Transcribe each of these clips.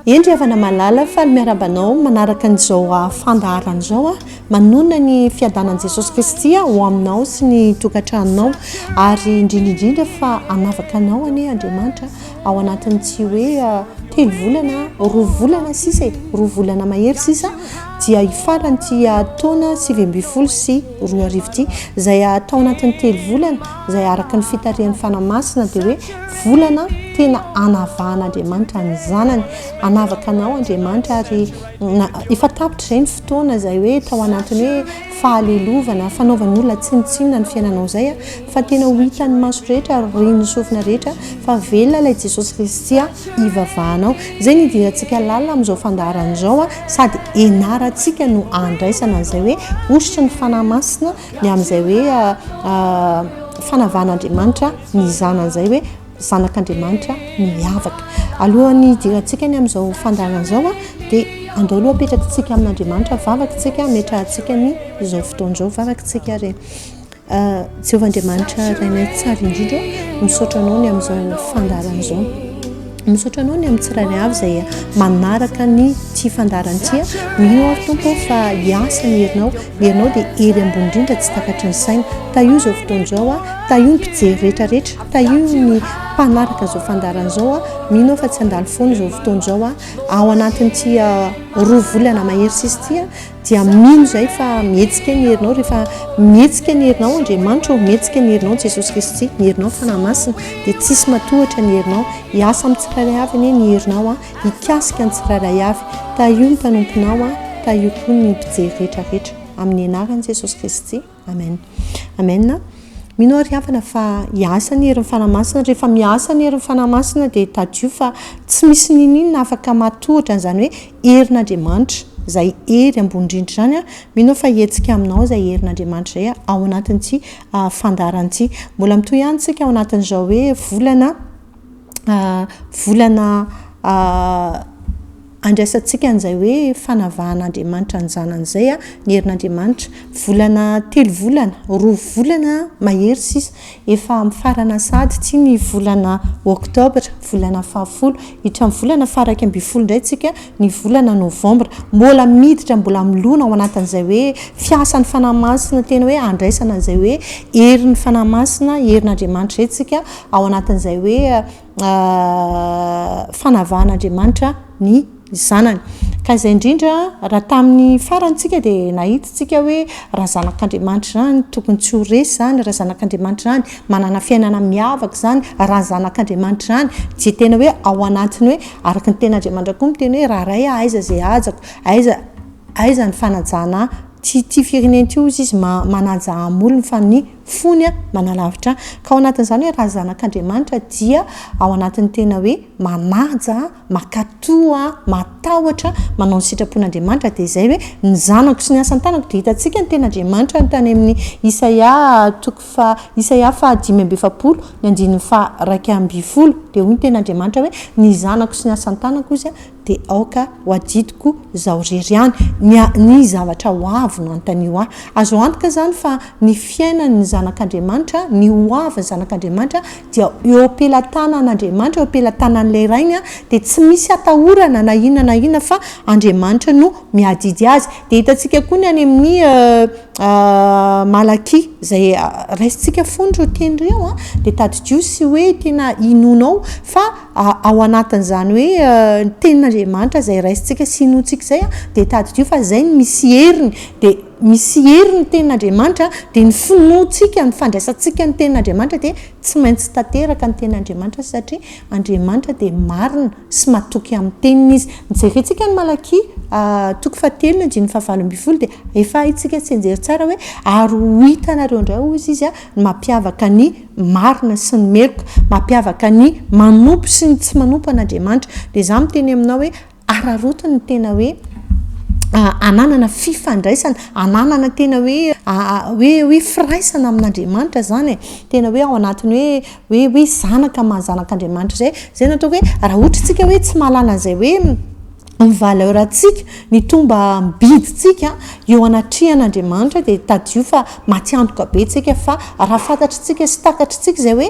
Eny ry havana malala, faly miarahaba anao manaraka an'izao fandaharana izao aho. Manonona ny fiadanan'i Jesosy Kristy aho ho aminao sy ny tokantranonao ary indrindra indrindra fa hanavaka anao anie Andriamanitra ao anatin'ny tsy hoe telo volana, roa volana sisa e, roa volana mahery sisa dia hifaran'ity taona sivy ambin'ny folo sy roa arivo ity. Izay hatao anatin'ny telo volana Izay araka ny fitarihan'ny Fanahy Masina dia hoe volana tena anavahan'Andriamanitra ny Zanany. Anavaka anao Andriamanitra ary efa tapitra izay ny fotoana izay hoe tao anatin'ny hoe fahalelovana, fanaovan'ny olona tsinontsinona ny fiainanao izay fa tena ho hitan'ny maso rehetra ary ren'ny sofina rehetra fa velona ilay Jesosy Kristy ivavahanao. Izay ny hidirantsika lalina amin'izao fandaharana izao sady ianarantsika no andraisana an'izay hoe hosotry ny Fanahy Masina Ny amin'izay hoe fanavan'Andriamanitra ny Zanany izay hoe Zanak'Andriamanitra miavaka. Alohan'ny hidirantsika ny amin'izao fandaharana izao dia andao aloha apetrakintsika amin'Andriamanitra ny vavakintsika, ametrahantsika ny izao fotoana izao vavakintsika re. Jehovah Andriamanitra Rainay tsara indrindra, misaotra anao ny amin'izao fandaharana izao. Misaotra anao ny amin'ny tsirairay avy izay manaraka ny ity fandaharana ity. Mino aho Tompo fa hiasa ny herinao, Ianao dia hery ambony indrindra tsy takatry ny saina. Tahio izao fotoana izao a! Tahio ny mpijery rehetra rehetra. Tahio ny mpanaraka izao fandaharana izao a! Mino aho fa tsy handalo foana izao fotoana izao a! Ao anatin'ity roa volana mahery sisa ity a! Dia mino izahay fa mihetsika ny herinao rehefa mihetsika ny herinao Andriamanitra ô! Mihetsika ny herinao Jesosy Kristy, ny herinao Fanahy Masina. Dia tsisy matohatra ny herinao. Hiasa amin'ny tsirairay avy anie ny herinao a! Hikasika ny tsirairay avy. Tahio ny mpanomponao an! Tahio koa ny mpijery rehetra rehetra. Amin'ny anaran'i Jesosy Kristy. Amen. Amen. Mino aho ry havana fa hiasa ny herin'ny Fanahy Masina. Rehefa miasa ny herin'ny Fanahy Masina dia tadidio fa tsy misy n'inon'inona afaka matohitra an'izany hoe herin'Andriamanitra, izay hery ambony indrindra izany. Mino aho fa hihetsika aminao izay herin'Andriamanitra izay ao anatin'ity fandaharana ity. Mbola mitohy ihany isika ao anatin'izao hoe volana. volana andraisantsika an'izay hoe fanavahan'Andriamanitra ny Zanany izay ny herin'Andriamanitra. Volana telo volana, roa volana mahery sisa, efa mifarana sahady ity ny volana oktobra, volana fahafolo. Hiditra amin'ny volana faharaika ambin'ny folo indray isika, ny volana novambra. Mbola miditra, mbola milona ao anatin'izay hoe fiasan'ny fanahy masina tena hoe andraisana an'izay hoe herin'ny fanahy masina, herin'Andriamanitra izay isika ao anatin'izay hoe fanavahan'Andriamanitra ny zanany. Ka izay indrindra, raha tamin'ny farany tsika dia nahita tsika hoe raha zanak'Andriamanitra izany tokony tsy ho resy izany, raha zanak'Andriamanitra izany manana fiainana miavaka izany, raha zanak'Andriamanitra izany dia tena hoe ao anatin'ny hoe araka ny tenin'Andriamanitra koa miteny hoe raharay aho aiza izay hajako, aiza aiza ny fanajana ahy. Tsy tia firenena ity hozy izy ma- manaja amin'ny olony fa ny. fony manalavitra ahy. Ka ao anatin'izany hoe raha zanak'Andriamanitra dia ao anatin'ny tena hoe manaja, mankatò, matahotra, manao ny sitrapon'Andriamanitra dia izay hoe ny zanako sy ny asan-tanako dia hitantsika ny ten'Andriamanitra ny tany amin'ny Isaia toko faha Isaia faha dimy amby efapolo ny andininy faha iraika ambin'ny folo dia hoy ny ten'Andriamanitra hoe ny zanako sy ny asan-tanako hozy De aoka ho adidiko zaho rery ihany ny ny zavatra ho avy no antanio ahy. Azo antoka izany fa ny fiainan'ny zanak'Andriamanitra, ny ho avy ny zanak'Andriamanitra dia eo am-pelatanan'Andriamanitra, eo am-pelatanan'ilay Rainy dia tsy misy atahorana na inona na inona fa Andriamanitra no miadidy azy. Dia hitantsika koa ny any amin'ny Malakia izay raisintsika fony ireo teny ireo an, dia tadidio sy hoe tena inoanao fa Ao anatin'izany hoe ny tenin'Andriamanitra izay raisintsika sy inoantsika izay an, dia tadidio fa izay no misy heriny. Dia misy heriny ny tenin'Andriamanitra, dia ny finoantsika, ny fandraisantsika ny tenin'Andriamanitra dia tsy maintsy tanteraka ny tenin'Andriamanitra satria Andriamanitra dia marina sy matoky amin'ny teniny izy. Jerentsika ny Malakia toko fahatelo ny andininy fahavalo ambin'ny folo dia efa haintsika tsianjery tsara hoe ary ho hitanareo indray hoy izy ny mampiavaka ny marina sy ny meloka mampiavaka ny manompo sy ny tsy manompo an'Andriamanitra. Dia izaho miteny aminao hoe araraoty ny tena hoe hananana fifandraisana, hananana tena hoe hoe hoe firaisana amin'Andriamanitra izany e. Tena hoe ao anatin'ny hoe hoe hoe zanaka maha zanak'Andriamanitra izay. Izay no ataoko hoe raha ohatra isika hoe tsy mahalala an'izay hoe Ny valeur-ntsika, ny tombam-bidintsika eo anatrehan' Andriamanitra dia tadidio fa matiantoka be tsika fa raha fantatritsika sy takatritsika izay hoe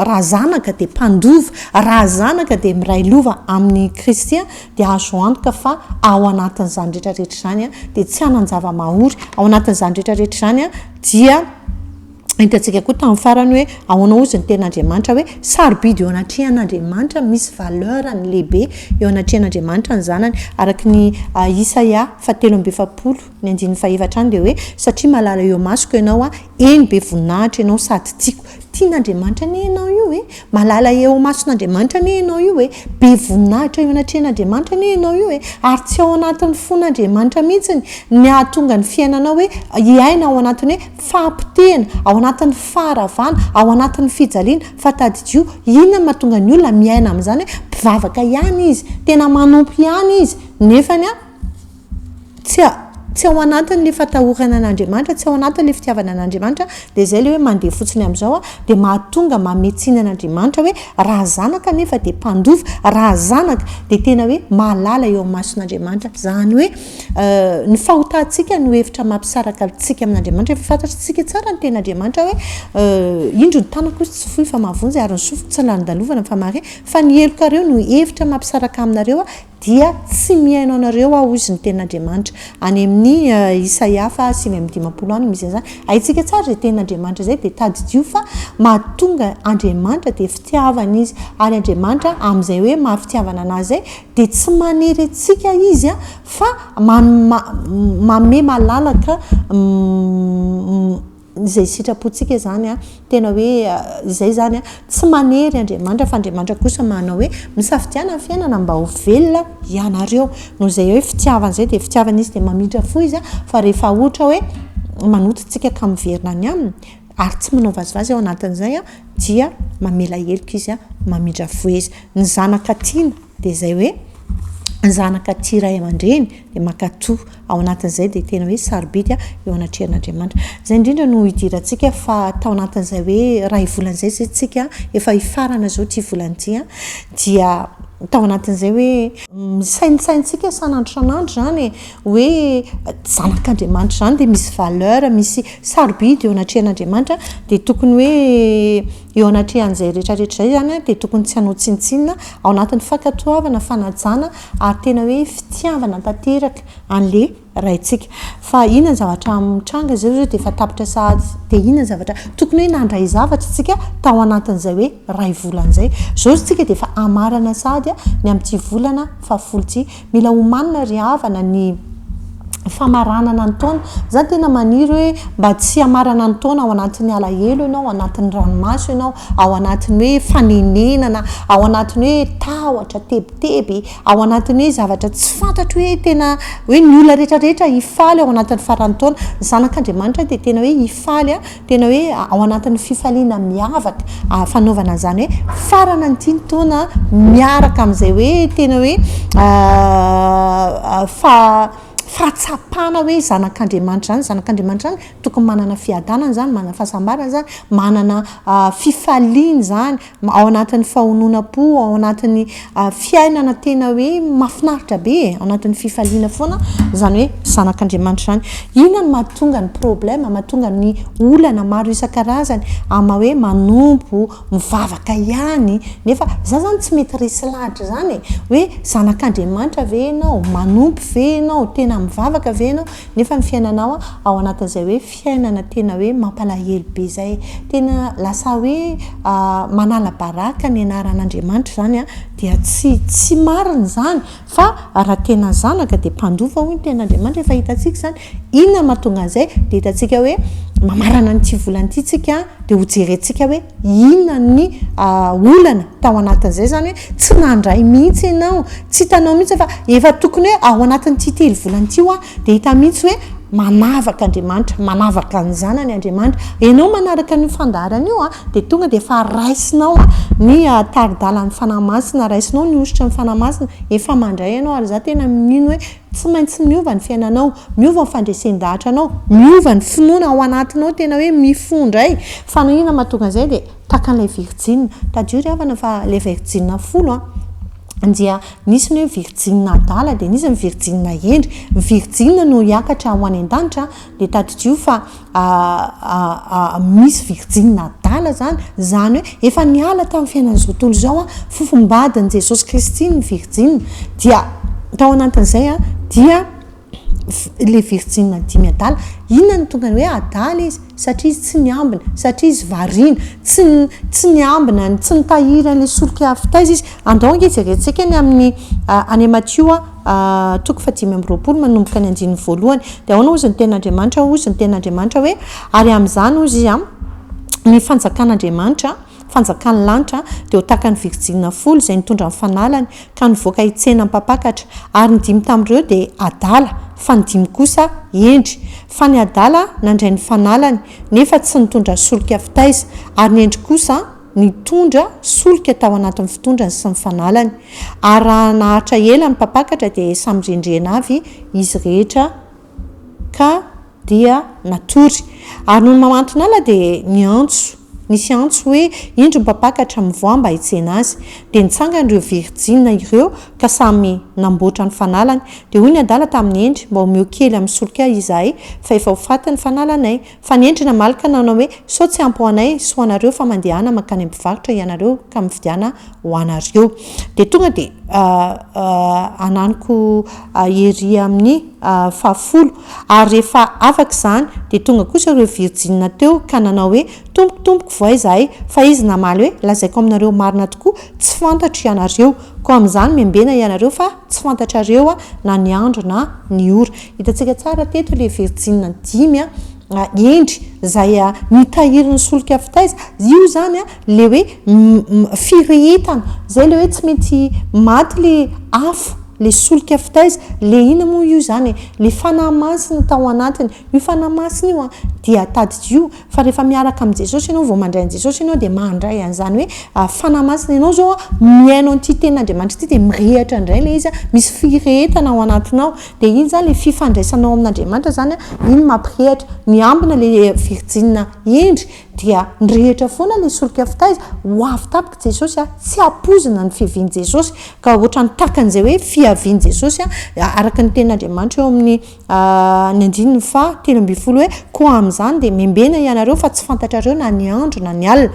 raha zanaka dia mpandova, raha zanaka dia miray lova amin' i Kristy dia azo antoka fa ao anatin' izany rehetra rehetra izany dia tsy hanan-java-mahory, ao anatin' izany rehetra rehetra izany dia Hitantsika koa tamin'ny farany hoe ahoana hozy ny tenin'Andriamanitra hoe sarobidy eo anatrehan'Andriamanitra, misy valeur-ny lehibe eo anatrehan'Andriamanitra ny zanany. Araka ny Isaia fahatelo amby efapolo, ny andininy fahefatra any dia hoe satria malala eo amasoko ianao aho, eny be voninahitra ianao sady tiako. Tian'Andriamanitra anie ianao io e! Malala eo amason'Andriamanitra anie ianao io e! Be voninahitra eo anatrehan'Andriamanitra anie ianao io e! Ary tsy ao anatin'ny fon'Andriamanitra mihitsy ny hahatonga ny fiainanao hoe hiaina ao anatin'ny hoe Fahapotehana, ao anatin'ny faharavana, ao anatin'ny fijaliana, fa tadidio, inona no mahatonga ny olona miaina amin'izany hoe mpivavaka ihany izy, tena manompo ihany izy, nefany tsy tsy ao anatin'ilay fatahorana an'Andriamanitra, tsy ao anatin'ilay fitiavana an'Andriamanitra, dia izay ilay hoe mandeha fotsiny amin'izao, dia mahatonga mamehy tsiny an'Andriamanitra hoe raha zanaka anefa dia mpandova, raha zanaka dia tena hoe mahalala eo amin'ny mason'Andriamanitra, izany hoe Ny fahotantsika no hevitra mampisaraka antsika amin'Andriamanitra. Efa fantatsika tsara ny tenin'Andriamanitra hoe indro ny tanako izy tsy fohy fa mahavonjy ary ny sofiko tsy lalindalovana fa mahare. Fa ny helokareo no hevitra mampisaraka aminareo dia tsy mihaino anareo aho, hoy izy ny tenin'Andriamanitra. Any amin'ny Isaia faha sivy amby dimampolo any no misy an'izany. Haintsika tsara izay tenin'Andriamanitra izay dia tadidio fa mahatonga Andriamanitra dia fitiavana izy. Ary Andriamanitra amin'izay hoe maha-fitiavana an'azy izay Dia tsy manery antsika Izy fa manome malalaka izay sitrapontsika izany. Tena hoe izay izany. Tsy manery Andriamanitra fa Andriamanitra kosa manao hoe misafidiana ny fiainana mba ho velona ianareo. Noho izay hoe fitiavana izay dia fitiavana Izy dia mamindra fo Izy fa rehefa ohatra hoe manoto antsika ka miverina any Aminy, ary tsy manao vazivazy ao anatin'izay dia mamela heloka izy, mamindra voa izy. Ny zanaka tiana dia izay hoe ny zanaka tia ray aman-dreny dia mankatò ao anatin'izay dia tena hoe sarobidy eo anatrehan'Andriamanitra. Izay indrindra no idirantsika fa tao anatin'izay hoe iray volana izay izay isika, efa hifarana izao ity volana ity, dia tao anatin'izay hoe misaintsaintsika isan'andro isan'andro izany e, hoe zanak'Andriamanitra izany dia misy valeur, misy sarobidy eo anatrehan'Andriamanitra, dia tokony hoe eo anatrehan'izay rehetra rehetra izay izany dia tokony tsy hanao tsinontsinona, ao anatin'ny fankatoavana, fanajana ary tena hoe fitiavana tanteraka an'ilay Raintsika. Fa inona ny zavatra mitranga izao izao dia efa tapitra sahady, dia inona ny zavatra tokony hoe nandray zavatra isika tao anatin'izay hoe iray volana izay. Izao isika dia efa hamarana sahady ny amin'ity volana fahafolo ity. Mila omanina ry havana ny famaranana ny taona. Za tena maniry hoe mba tsy hamarana ny taona ao anatin'ny alahelo ianao, ao anatin'ny ranomaso ianao, ao anatin'ny hoe fanenenana, ao anatin'ny hoe tahotra, tebiteby, ao anatin'ny hoe zavatra tsy fantatro hoe tena hoe ny olona rehetra rehetra hifaly ao anatin'ny faran'ny taona. Ny zanak'Andriamanitra dia tena hoe hifaly Tena hoe ao anatin'ny fifaliana miavaka fanaovana an'izany hoe farana ny tiany taona miaraka amin'izay hoe tena hoe fa fahatsapana hoe zanak'Andriamanitra izany, zanak'Andriamanitra izany tokony manana fiadanana izany, manana fahasambarana izany, manana fifaliana izany, ao anatin'ny fahononam-po, ao anatin'ny fiainana tena hoe mahafinaritra be e, ao anatin'ny fifaliana foana izany hoe zanak'Andriamanitra izany. Inona no mahatonga ny problème, mahatonga ny olana maro isan-karazany amin'ny hoe manompo, mivavaka ihany nefa za zany tsy mety resy lahatra izany e, hoe zanak'Andriamanitra ve ianao, manompo ve ianao, tena mivavaka ve ianao nefa ny fiainanao ao anatin'izay hoe. fiainana tena hoe mampalahelo be zay, tena lasa hoe manala baraka ny anaran'Andriamanitra izany an, dia tsy tsy marina izany fa raha tena zanaka dia mpandova hoy ny tenin'Andriamanitra, efa hitantsika izany, inona no mahatonga an'izay? dia hitantsika hoe mamarana an'ity volana ity tsika dia hojerentsika hoe. Inona ny olana tao anatin'izay? Izany hoe tsy nandray mihitsy ianao, tsy hitanao mihitsy fa efa tokony hoe ao anatin'ity telo volana ity hoa dia hita mihitsy hoe manavaka Andriamanitra, manavaka ny Zanany Andriamanitra. Ianao manaraka an'io fandaharana io dia tonga dia efa raisinao ny tari-dalan'ny Fanahy Masina, raisinao ny hosotry ny Fanahy Masina, efa mandray ianao ary izaho tena mino hoe Tsy maintsy miova ny fiainanao, miova ny fandresen-dahatranao, miova ny finoana ao anatinao tena hoe mifoha indray, fa na inona mahatonga an'izay dia tahaka an'ilay virjina, tadidio ry havana fa ilay virjina folo an, dia nisy ny hoe virjina adala dia nisy ny virjina hendry, ny virjina no hiakatra ho any an-danitra dia tadidio fa misy virjina adala zany, zany hoe efa niala tamin'ny fiainan'izao tontolo izao an, fofombadin'i Jesosy Kristy ny virjina, dia tao anatin'izay an, dia ilay virjina dimy adala, inona no tonga ny hoe adala izy? satria izy tsy niambina, satria izy variana, tsy tsy niambina, tsy nitahiry an'ilay solika avy taiza izy, andao ange jerentsika ny amin'ny any Matio a. toko fahadimy amby roapolo manomboka ny andininy voalohany. Dia ahoana hozy ny tenin'Andriamanitra? Hozy ny tenin'Andriamanitra hoe, ary amin'izany hozy izy, ny fanjakan'Andriamanitra, fanjakan'ny lanitra, dia ho tahaka ny virjina folo izay nitondra ny fanalany, ka nivoaka hitsena am-pampakatra. Ary ny dimy tamin'ireo dia adala, fa ny dimy kosa hendry. Fa ny adala nandray ny fanalany, nefa tsy nitondra solika fitaiza, ary ny hendry kosa, nitondra solika tao anatin'ny fitondrany sy ny fanalany, ary raha naharitra ela ny mpampakatra dia samy rendrena avy izy rehetra ka dia natory. Ary nony mamanton'ala dia niantso, nisy antso hoe, Indro ny mpampakatra, mivoaha mba hitsena azy. Dia nitsangana ireo virjina ireo ka samy namboatra ny fanalany. Dia hoy ny adala tamin'i Hendry, Mba omeo kely amin'ny solika ahy izahay fa efa ho faty ny fanalanay. Fanendrena malika nanao hoe, sao tsy ampy ho anay sy ho anareo fa mandehana mankany amin'ny mpivarotra hianareo ka mividiana ho anareo. Dia tonga dia ananiko ery amin'ny fahafolo. Ary rehefa afaka izany dia tonga kosa ireo virjina teo ka nanao hoe, tompoko, tompoko, vohay izahay. Fa izy namaly hoe, lazaiko aminareo marina tokoa, tsy fantatro ianareo. Koa amin'izany membena ianareo fa tsy fantatrareo aho na ny andro na ny ora. Hitantsika tsara teto ilay virjina dimy hendry izay nitahirin'ny solika fitaiza. Io izany ilay hoe firehetana. Izay ilay hoe tsy maintsy maty ilay afo, ilay solika fitaiza. Ilay inona moa io izany e? Ilay fanahy masina tao anatiny. Io fanahy masina io dia tadidio fa rehefa miaraka amin'i Jesosy ianao, vao mandray an'i Jesosy ianao dia mandray an'izany hoe fanahy masina. Ianao izao mihaino an'ity tenin'Andriamanitra ity dia mirehitra indray ilay izy, misy firehetana ao anatinao. Dia iny izany ilay fifandraisanao amin'Andriamanitra izany an, iny mampirehitra, miambina ilay virjina hendry, dia mirehitra foana ilay solika fitaiza, ho avy tampoka i Jesosy an, tsy ampoizina ny fiavian'i Jesosy, ka ohatran'ny takan'izay hoe fiavian'i Jesosy an, araka ny tenin'Andriamanitra eo amin'ny ny andininy faha telo ambin'ny folo hoe, koa amin'izany dia membena ianareo fa tsy fantatrareo na ny andro na ny alina.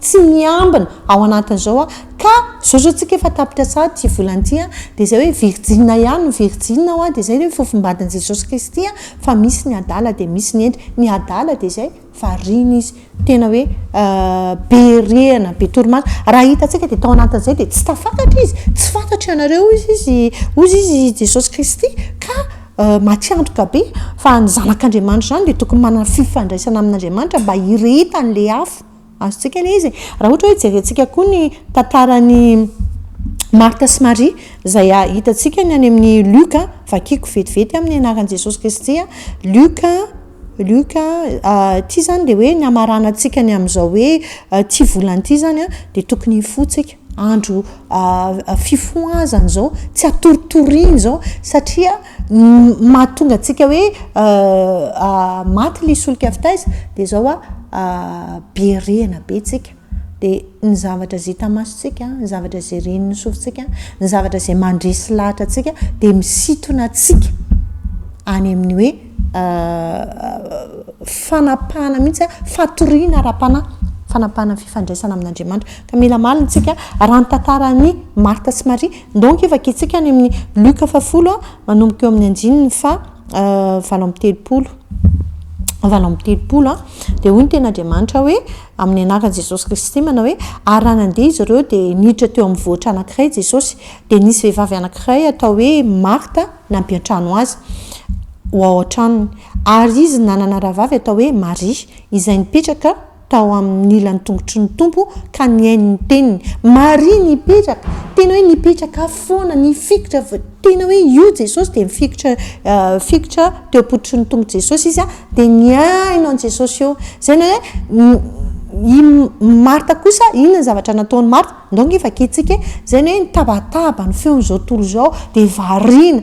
tsy miambina ao anatin'izao a, ka zao zao tsika efa tapitra tsara ity volana ity a, dia izay hoe virjina ihany no virjina ao a, dia izay hoe fofombadin'i Jesosy Kristy a, fa misy ny adala dia misy ny hendry, ny adala dia izay variana izy tena hoe be rihana, be torimaso, raha hitantsika dia tao anatin'izay dia tsy tafakatra izy, tsy fantatry ianareo hoy izy izy, hoy izy izy i Jesosy Kristy, ka matiantoka be, fa ny zanak'Andriamanitra izany dia tokony manana fifandraisana amin'Andriamanitra mba hirehetan'ilay afo. Azontsika ilay izy e! Raha ohatra hoe jerentsika koa ny tantaran'i Martha sy Maria, izay hitantsika ny any amin'ny Luc a, vakiko vetivety amin'ny anaran'i Jesosy Kristy a, Luc, Luc, ity izany dia hoe ny hamaranantsika ny amin'izao hoe ity volana ity izany an, dia tokony hifoha tsika, andro fifohazana izao, tsy hatoritoriana izao, satria, Ny mahatonga antsika hoe maty ilay solika fitaiza dia izao an, be rihana be tsika, dia ny zavatra izay hita masontsika, ny zavatra izay ren'ny sofintsika, ny zavatra izay mandresy lahatra antsika dia misintona antsika any amin'ny hoe fanapahana mihitsy an, fatoriana ara-panahy, fanapahana fifandraisana amin'Andriamanitra. Ka mila malina isika raha ny tantaran'i Martha sy Maria Donc efa gitsika any amin'ny Luka faha folo a, manomboka eo amin'ny andininy faha valo amby telopolo, valo amby telopolo a, dia hoy ny Tenin'Andriamanitra hoe, amin'ny anaran'i Jesosy Kristy manao hoe, ary raha nandeha izy ireo dia niditra teo amin'ny vohitra anankiray Jesosy, dia nisy vehivavy anankiray atao hoe Marta nampiantrano azy ho ao an-tranony, ary izy nanana rahavavy atao hoe Maria, izay nipetraka tao amin'ny ilan'ny tongotry ny Tompo ka nihaino ny teniny. Maria nipetraka, tena hoe nipetraka foana, nifikitra, tena hoe io Jesosy dia mifikitra, fikitra teo am-pototry ny tongotr'i Jesosy izy dia nihaino an'i Jesosy eo. Izay no hoe i Marta kosa, inona ny zavatra nataon'i Marta? Ndao ange vakiantsika e! Izay no hoe nitabataba ny feon'izao tontolo izao dia variana,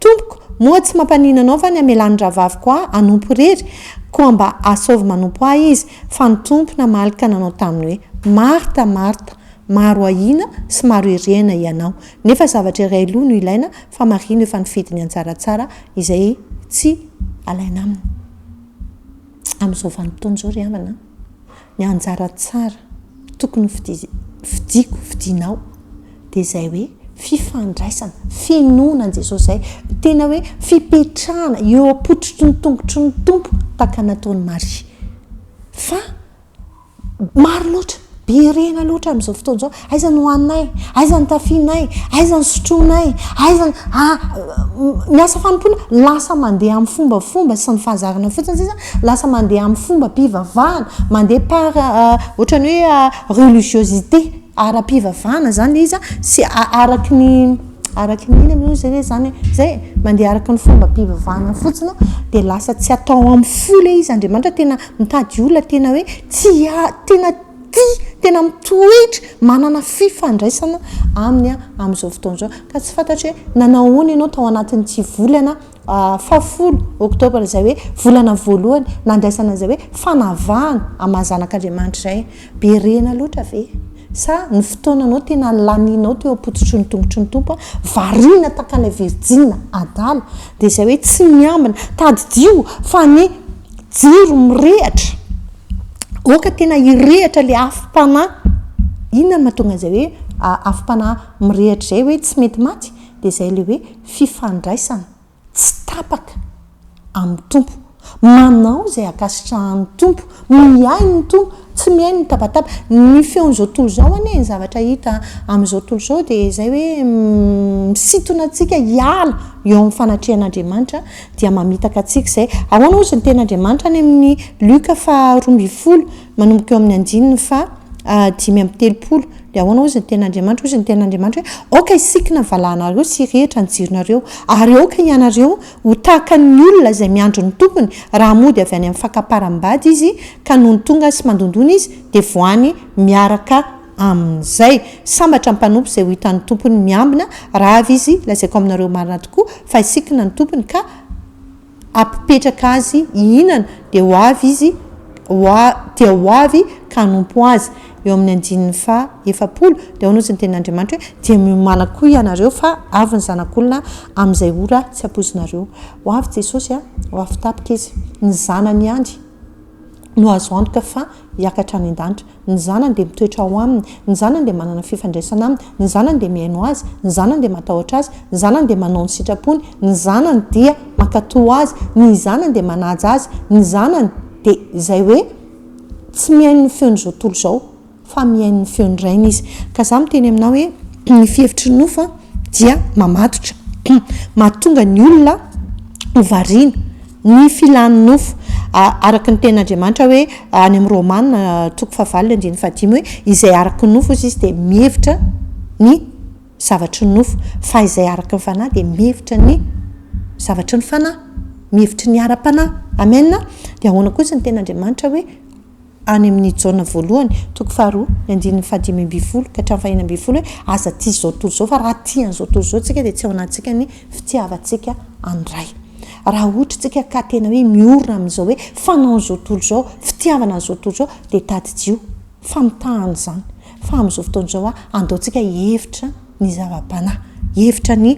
Tompoko, moa tsy mampanino anao va ny hamelan'ny rahavaviko ahy hanompo irery? Koa mba asaovy manompo ahy izy, fa ny Tompo namaly ka nanao taminy hoe, Marta, Marta, maro ahiana sy maro erehana hianao, nefa zavatra iray aloha no ilaina, fa Maria no efa nifidy ny an-tsaratsara, izay tsy alaina aminy. Amin'izao vanim-potoana izao ry havana a! Ny anjara tsara tokony fidiko, fidinao dia izay hoe fifandraisana, finoana an'i Jesosy izay tena hoe fipetrahana eo am-pototry ny tongotry ny Tompo tahaka nataon'i Maria. Fa maro loatra, be rena loatra amin'izao fotoana izao Aiza ny hoaninay? Aiza ny tafianay? Aiza ny sotroinay? Aiza ny ah, ny asa fanompoana lasa mandeha amin'ny fombafomba sy ny fahazarana fotsiny sisa, lasa mandeha amin'ny fombam-pivavahana, mandeha par ohatran'ny hoe ah, religiosité ara-pivavahana zany le izy a, sy araky ny araky ny inona moa zay le zany e, zay e, mandeha araky ny fombam-pivavahana fotsiny dia lasa tsy atao amin'ny fo le izy, Andriamanitra tena mitady olona tena hoe tsy ah, tena. tia, tena mitoetra, manana fifandraisana aminy amin'izao fotoana izao. Ka tsy fantatro hoe nanao ahoana ianao tao anatin'ity volana fahafolo, oktobra, izay hoe volana voalohany nandraisana izay hoe fanavahana amin'ny maha zanak'Andriamanitra izay. Be rena loatra ve? Sa ny fotoananao tena lanianao teo am-pototry ny tongotry ny Tompo, variana tahaka ilay virjina adala, dia izay hoe tsy miambina, tadidio fa ny Jiro mirehatra, oka tena hirehatra ilay afom-panahy. Inona no mahatonga izay hoe afom-panahy mirehatra izay hoe tsy mety maty? Dia izay ilay hoe fifandraisana tsy tapaka amin'ny Tompo. Manao izay ankasitrahan'ny Tompo, mihaino ny Tompo, tsy mihaino ny tabataba. Ny feon'izao tontolo izao anie ny zavatra hita amin'izao tontolo izao dia izay hoe misintona antsika hiala eo amin'ny fanatrehan'Andriamanitra. dia mamitaka antsika izay. Ahoana hozy ny teny Andriamanitra any amin'ny Luka faha roa ambin'ny folo, manomboka eo amin'ny andininy faha dimy amby telopolo, dia ahoana hozy ny teny Andriamanitra, hozy ny teny Andriamanitra hoe, aoka hisikina ny valahanareo sy hirehitra ny jironareo, ary aoka hianareo ho tahaka ny olona izay miandry ny tompony, raha mody avy any amin'ny fakamparam-bady izy, ka nony tonga sy mandondona izy, dia voany miaraka amin'izay. Sambatra ny mpanompo izay ho hitan'ny tompony miambina, raha avy izy, lazaiko aminareo marina tokoa, fa hisikina ny tompony ka hampipetraka azy hihinana, dia ho avy izy, ho a, dia ho avy ka hanompo azy. Eo amin'ny andininy faha efapolo, dia ahoana ozy ny tenin'Andriamanitra hoe, Dia miomana koa hianareo, fa avy ny Zanak'olona amin'izay ora tsy hampoizinareo. Ho avy Jesosy, a, ho afitapika Izy, ny Zanany ihany. no azo antoka fa hiakatra any an-danitra. Ny Zanany dia mitoetra ao Aminy. Ny Zanany dia manana fifandraisana Aminy. Ny Zanany dia mihaino Azy. Ny Zanany dia matahotra Azy. Ny Zanany dia manao ny sitrapony. Ny Zanany dia mankatò Azy. Ny Zanany dia manaja Azy. Ny Zanany dia izay hoe tsy mihaino ny feon'izao tontolo izao. fa mihaino ny feon'ny Rainy izy. Ka za miteny aminao hoe ny fihevitry ny nofo dia mamatotra. Mahatonga ny olona ho variana ny filan'ny nofo. Araka ny tenin'Andriamanitra hoe any amin'ny Romana toko fahavalo andininy fahadimy hoe izay araka ny nofo ozy izy dia mihevitra ny zavatry ny nofo fa izay araka ny fanahy dia mihevitra ny zavatry ny fanahy. Mihevitry ny ara-panahy. Amen. Dia ahoana kosa ny tenin'Andriamanitra hoe. any amin' ny Jaona voalohany, toko faharoa, ny andininy fahadimy ambin'ny folo ka hatramin'ny fahenina ambin'ny folo hoe, Aza tia izao tontolo izao, fa raha tia an'izao tontolo izao isika dia tsy ao anatintsika ny fitiavantsika an'ny Ray. Raha ohatra isika ka tena hoe miorina amin'izao hoe fanaon'izao tontolo izao, fitiavana an'izao tontolo izao, dia tadidio fa mitahana izany fa amin'izao fotoana izao, andaontsika hihevitra ny zava-panahy, hevitra ny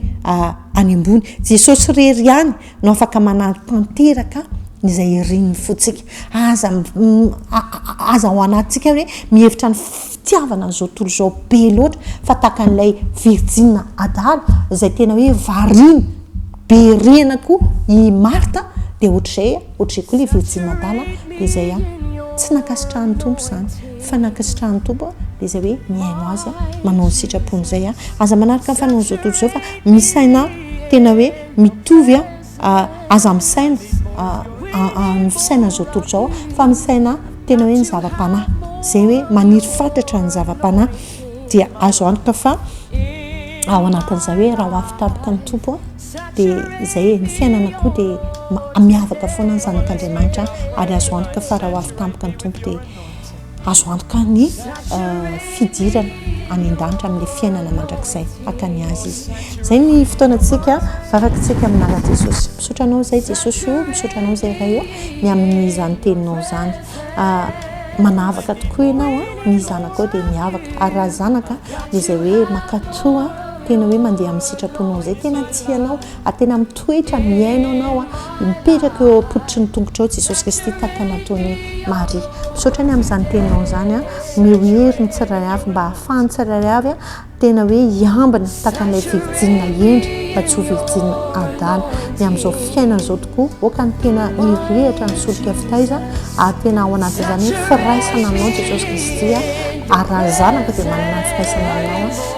any ambony. Jesosy irery ihany no afaka manampy tanteraka izay irin'ny fontsika. Aza aza ao anatintsika hoe mihevitra ny fitiavana an'izao tontolo izao be loatra fa tahaka an'ilay virjina adala izay tena hoe variana be rihana koa i Marta dia ohatr'izay ohatr'izay koa ilay virjina adala dia izay a! Tsy nankasitrahan'ny Tompo izany. Fa nankasitrahan'ny Tompo aho dia izay hoe mihaino Azy aho, manao ny sitrapony izay aho. Aza manaraka ny fanaon'ny izao tontolo izao fa misaina tena hoe mitovy aho, aza misaina ny fisainan'ny izao tontolo izao aho fa misaina tena hoe ny zava-panahy, izay hoe maniry fatratra ny zava-panahy dia azo antoka fa ao anatin'izay hoe raha ho avy tampoka ny Tompo aho dia izay e, ny fiainana koa dia miavaka foana ny zanak'Andriamanitra ary azo antoka fa raha ho avy tampoka ny Tompo dia Azo antoka ny fidirana any an-danitra amin'ny fiainana mandrakizay haka ny azy izy. Izay ny fotoanantsika, varakitsika amin'ny naran'i Jesosy. Misaotra anao izay Jesosy o, misaotra anao izay Ray o, ny amin'izany teninao izany. Manavaka tokoa ianao, ny zanakao dia miavaka. Ary raha zanaka dia izay hoe mankatò, tena hoe mandeha amin'ny sitraponao izay, tena tia anao. ary tena mitoetra mihaino anao a mipetraka eo ampototry ny tongotrao jesosy kristy tahaka nataony maria misaotra ny amin'izany teninao izany a meo hery ny tsiray avy mba hahafahany tsiray avy a tena hoe hiambina tahaka an'ilay virijina endry fa tsy ho virijina adala ny amin'izao fiainana izao tokoa oka ny tena irehatra ny solika fitaiza ary tena ao anaty izany hoe firaisana anao jesosy kristy a ary raha zanaka dia manana firaisana anao